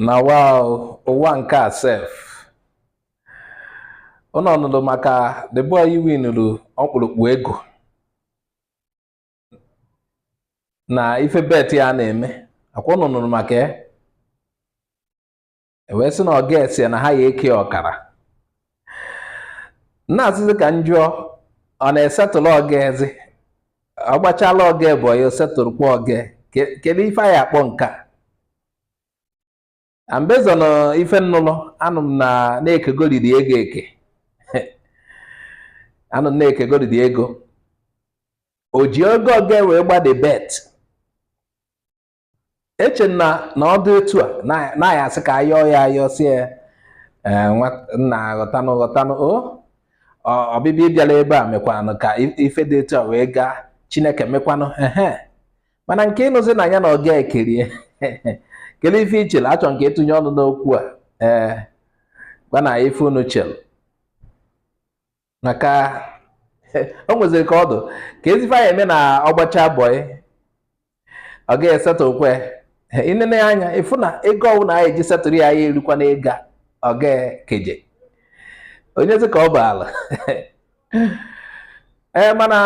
na wa ụwa nke a sef ụnụ nụrụ maka the boy winuru ọkpụrụkpụ ego na ife bet ya na-eme akwa ụnụ nụrụ maka ya e wee sị na ọga ya sị na ha ya eke ọkara nna asịzi ka m jụọ ọ na-esetụrụ ọga ya zi ọ gbachala ọga bọị ya esetụrụkwa ọga ya kedu ife a ya akpọ nke a and based on ife m nụlụ anụ m na na-ekegoriri ego eke anụ m na-ekegoriri ego o ji oge ọga wee gbaa the bet eche m na ọ dị etu a na a ya asị ka a yọọ ya ayọ sị ya eh, nna ghọtanụ ghọtanụ o ọbịbịa ị bịala ebe a mekwanụ ka ife dị etu a wee gaa chineke mekwanụ ehe mana nke ịnụzi na ya na ọga ya ekerie kedu ife i chelu achọ m ka ị tụnye ọnụ n'okwu a ee eh, gwanụ m ife unu chelu maka o nweziri ka ọ dụ ka ezi ife a ya eme na ọ gbacha bọị ọga ya esetụkwa ya i nene anya ị fụ na ego ọbụla a ya eji setụrụ ya ayaghị erukwa na ego ọga ya keje onye zi ka ọ bụ ala ee mana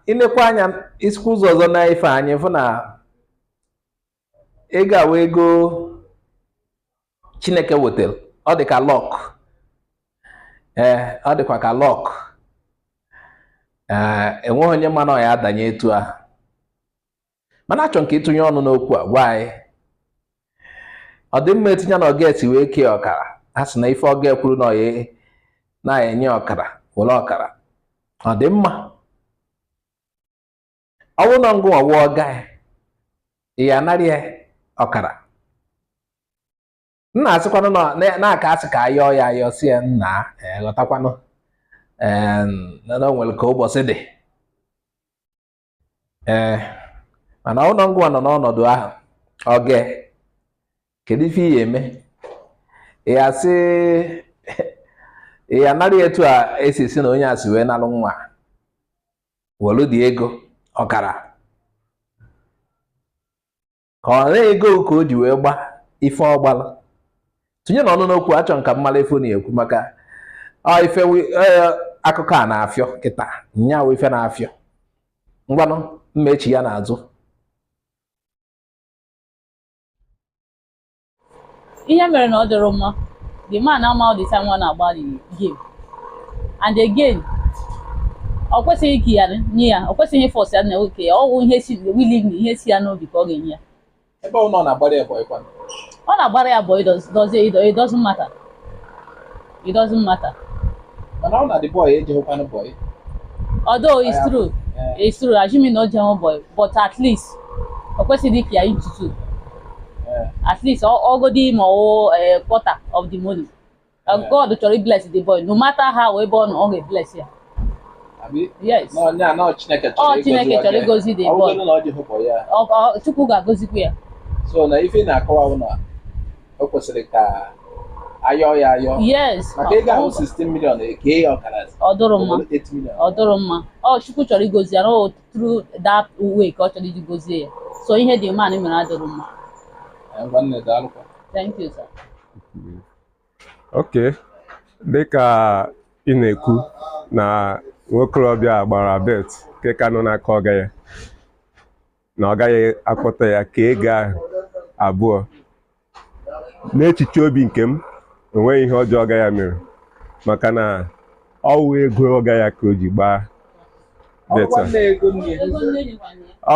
i nekwa anya i sikwa ụzọ ọzọ nee ife anya ị fụ na ego a wụ ego chineke wetara ọ dị ka luck ee ọ dịkwa ka luck ee enweghị onye ma na ọ ya adanye etu a mana achọ m ka ị tụnye ọnụ n'okwu a gwa anyị ọ dị mma etu ya na ọga ya si wee kee ọkara a sị na ife ọga ya kwuru na ọ ya enye ọkara were ọkara ọ dị mma ọ bụrụ na ngụ nwa wụ ọga ya ị ya anara ya ọkara nna asịkwanụ na na- na a ka asị ka a yọọ ya ayọ sị ya nna ee, ghọtakwanụ ee, na na o nwere ka ụbọchị dị ee mana ọ wụ na ngụ nwa nọ n'ọnọdụ ahụ ọga ya kedu ife ị ya eme ị ya sị ị ya nara ya etu a e si sị na onye a si wee nalụ nwa welu the ego ọkara ka ọ na ego ka o ji wee gba ife ọ gbala tinyenụ ọnụ n'okwu achọ m ka m mara ife unu ya ekwu maka ife e, akụkọ a na-afịọ kịta nya wụ ife na-afịọ ngwanụ m mechie ya n'azụ ihe mere na ọ dịrị mma the man ama all the time nwa na-agba the game and again ọ kwesịghị ike ya nye ya ọ kwesịghị iforce ya na o kee ya ọwụ ihe si willingly ihe si ya n'obi ka ọ ga-enye ya ebe ọ nọ na-agbara ya boy kwanụ ọ na-agbara ya boy does does it doesn't matter it doesn't matter mana ọ na the boy ejeghịkwanụ boy although it's Yeah. true Eh, it's true assuming na o jehụ boy but at least o kwesịghị ike ya into two eh, at least ọ- ọgodi ma ọ eh, quarter of the money Uh, Yeah. God chọrọ bless the boy no matter how ebe ọ nọ ọ ga-ebless ya abi yes nọ nya nọ chineke Ọ, chọrọ Chineke ịgọzi chọrọ ọdị. ịgọzi the Ọ bụgodị boy. na ọ jeghị boy ya Ọ- ọ- chukwu ga-agozikwa ya so na ife ị na-akọwa bụ na o kwesịrị ka a yọọ ya ayọ yes maka ego ahụ 16 million e kee ya ọkara ọ dụrụ mma ọ dụrụ mma ọ chukwu chọrọ igozi ya na ọ through that way ka ọ chọrọ iji gozie ya so ihe the man mere adụrụ mma nwanne daalụkwa thank you sir okay dịka ị na-ekwu na nwokorobịa gbara bet nke ka nọ n'aka ọga ya na ọ gaghị akpọta ya ka ego ahụ abụọ n'echiche obi nke m enweghị ihe ọjọọ ọga ya mere maka na ọwụ ego ọga ya ka o ji gbaa bet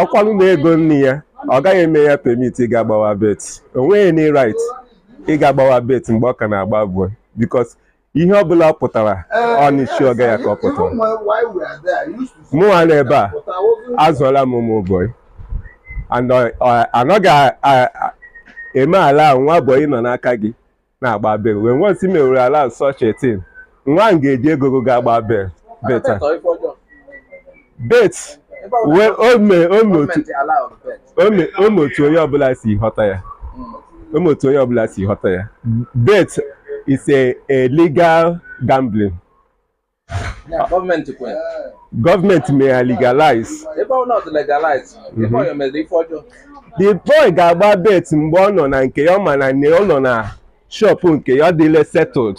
ọkwanụ na ego nne ya ọ gaghị eme ya permit ịga gbawa bet o nweghị any right ịga gbawa bet mgbe ọ ka na-agba boy because ihe ọ bụla ọ pụtara ọ n'isi ọga ya ka ọ pụtara mụnwa na ebe a azụọla m ụmụ boy and ọ- ọ- anaghị a- a- a- eme allow nwa boy nọ n'aka gị na-agba bet when once i mewere allow such a thing nwa m ga-eji ego gị ga agba bet bet bet wee o mee o mee otu o mee otu onye ọbụla si ghọta ya o mee otu onye ọbụla si ghọta ya bet is a, a legal gambling government mere legalize ebe ọ not legalize ebe mhm. ọ mere ife ọjọọ the boy ga-agba bet mgbe ọ nọ na nke ya ọ ma na ọ nọ na shop nke ya ọ dịle settled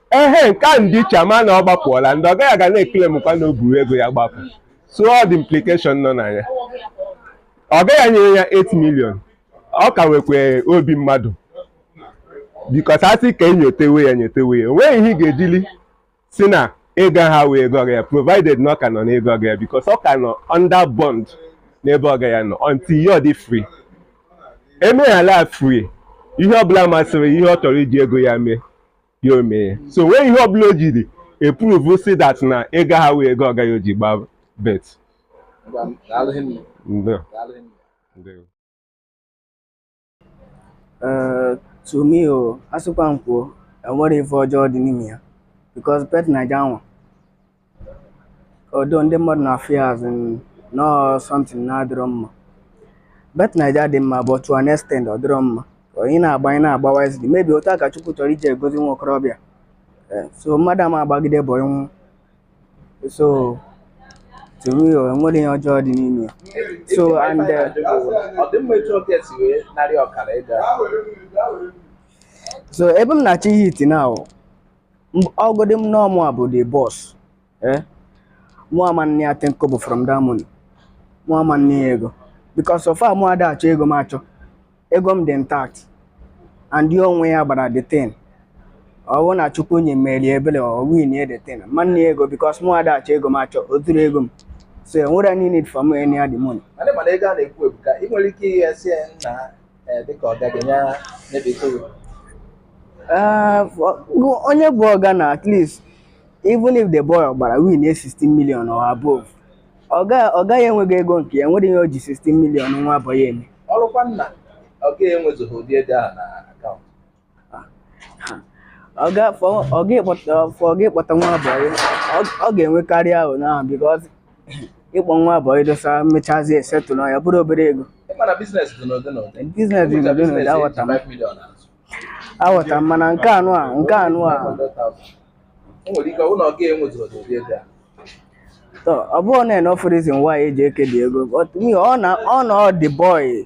ehe nke a ndị iche ama na ọ gbapụọla ndị ọga ya ga na-ekele mkwa na o buru ego ya gbapụ so all the implication nọ na ya ọga ya nyere ya 8 million ọ ka nwekwa obi mmadụ because a sị ka enyotewe ya nyotewe ya o nweghị ihe ị ga-ejili si na ego ahụ wụ ego ọga ya provided na ọ ka nọ n'ego ọga ya because ọ ka nọ under bond n'ebe ọga ya nọ until ya ọ dị free emeghala free ihe ọbụla masịrị ihe ọ chọrọ iji ego ya mee ya omee so o nweghị ihe ọbụla o jiri eprove sị that na ego ahụ wụ ego ọga ya o ji gbaa bet eh, to me o oh, asịkwa m kwuo enwerọ ife ọjọọ dị n'ime ya because bet naija nwa although ndị mmadụ na-afụ ya as na ọ something na-adịrọ mma bet naija dị mma but to an extent ọ dịrọ mma onye na-agba ya na-agba wisely maybe otu a ka chukwu chọrọ iji egozi nwa okorobịa Eh, so mmadụ ama agbagide bụ ịnwụ so to me o enwerọ ihe ọjọọ dị n'ime ya so and eh, ọ dị mma etu ọbịa si wee narị ọkara ịga so ebe m na-achọ ịhit now ọgụdị m na ọ mụ bụ the boss eh mụ ama ana ya ten kobo from that money mụ ama ana ya ego because so far mụ ada achọ ego m achọ ego m dị intact and ya onwe ya gbara the thing ọ bụrụ na chukwu onye meere ya ebele ọ winie the thing m ama ana ya ego because mụ ada achọ ego m achọ o zuru ego m so enwerọ any need for me any other money Mana ị mana ego a na-ekwu ebuka ị nwere ike ịghasị ya na ee dịka ọga gị ya na-ebite gị Eh, for- go- onye bụ ọga na at least even if the boy gbara win a 16 million or above ọga ọga ya enweghị ego nke ya nwere ihe o ji 16 million nwa boy ya eme ọ bụrụkwa na ọga enwezughị ụdị ego ahụ na akaụntụ ọ ga-afọ ọ ga-ekpọta afọ ọ ga-ekpọta nwa boy ọ- ọ ga-enwekarị ahụ n'ahụ bikọz ịkpọ nwa boy dosa mechazi esetụlụ ya bụrụ obere ego ịmana biznes dị n'ụdị n'ụdị biznes dị n'ụdị n'ụdị aghọta m aghọta m mana nke a nwa nke a nwa o nwere ike na ọga enwezurọ ụdị ego ahụ ọ bụrọ an enough reason why eji eke the ego but me ọ na ọ na ọ the boy